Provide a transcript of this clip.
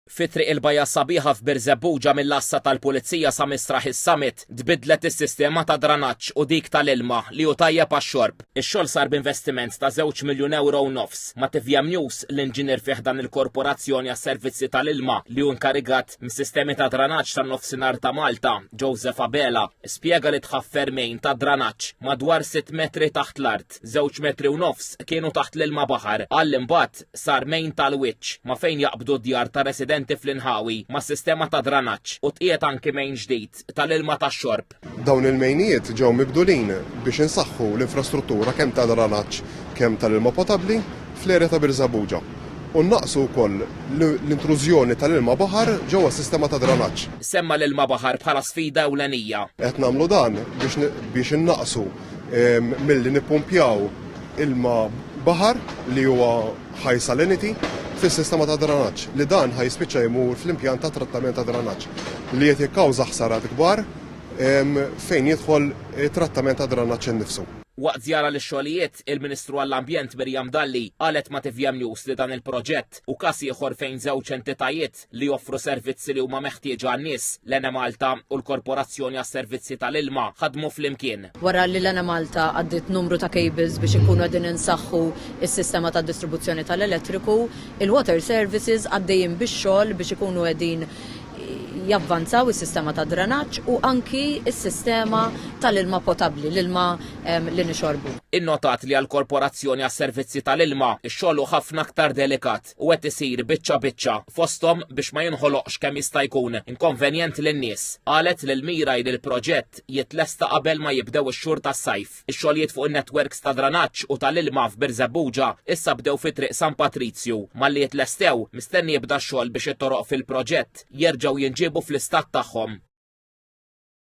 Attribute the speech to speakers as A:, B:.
A: Fi Triq il-Bajja Sabiħa f'Birżebbuġa mill-Għassa tal-Pulizija sa Misraħ is-Summit tbiddlet is-sistema ta' dranaġġ u dik tal-ilma li hu tajjeb għax-xorb. Ix-xogħol sar b'investiment ta' żewġ miljun ewro u nofs. Ma' TVM News, l-inġinier fi ħdan il-Korporazzjoni għas-Servizzi tal-Ilma li hu inkarigat mis-sistemi ta' dranaġġ tan-Nofsinhar ta' Malta, Joseph Abela, spjega li tħaff fermejn ta' dranaġġ madwar sitt metri taħt l-art, żewġ metri u nofs kienu taħt l-ilma baħar. Qal li mbagħad sar mejn tal-wiċċ ma' fejn jaqbdu d-djar tar-residenti fl-inħawi mas-sistema ta' dranaġġ u tqiegħed anki mejn ġdid tal-ilma tax-xorb. Dawn il-mejnijiet
B: ġew mibdulin biex insaħħu l-infrastruttura kemm ta' dranaġġ kemm tal-ilma potabbli fl-erja ta' Birżebbuġa u nnaqqsu wkoll l-intrużjoni tal-ilma baħar ġewwa s-sistema ta' dranaġġ. Semma' l-ilma baħar
A: bħala sfida ewlenija. Qed nagħmlu dan
B: biex innaqqsu milli nippumpjaw ilma baħar li huwa high salinity fis-sistema ta' dranaġġ li dan ħaj spiċċa jmur fl-impjant ta' trattament ta' dranaġġ li qed jikkawża ħsarat kbar fejn jidħol trattament ta' dranaġġ innifsu. Waqt żjara
A: lix-xogħlijiet, il-Ministru għall-Ambjent Miriam Dalli qalet ma' tvm News li dan il-proġett hu każ ieħor fejn żewġ entitajiet, li joffru servizzi li huma meħtieġa għan-nies, l-Enemalta u l-Korporazzjoni għas-Servizzi tal-Ilma ħadmu flimkien. Wara li l-Enemalta
C: għaddiet numru ta' cables biex inkunu qegħdin insaħħu s-sistema ta' distribuzzjoni tal-elettriku, il-Water Services għaddejjin bix-xogħol biex ikunu qegħdin javvanzaw is-sistema ta' drenaġġ u anki s-sistema tal-ilma potabbli, l-ilma li nixorbu. Innotat li
A: għall-Korporazzjoni għas-Servizzi tal-Ilma, ix-xogħol hu ħafna aktar delikat. fil-fatt u qed isir biċċa biċċa fosthom biex ma jinħoloqx kemm jista' jkun inkonvenjent lin-nies. Qalet lil Miraj li l-proġett jitlesta qabel ma jibdew ix-xhur tas-sajf. Ix-xogħlijiet fuq in-netwerks ta' dranaġġ u tal-ilma f'Birżebbuġa issa bdew fi Triq San Patrizju. Malli jitlestew, mistenni jibda x-xogħol biex it-toroq fil-proġett jerġgħu jinġiebu fl-istat tagħhom.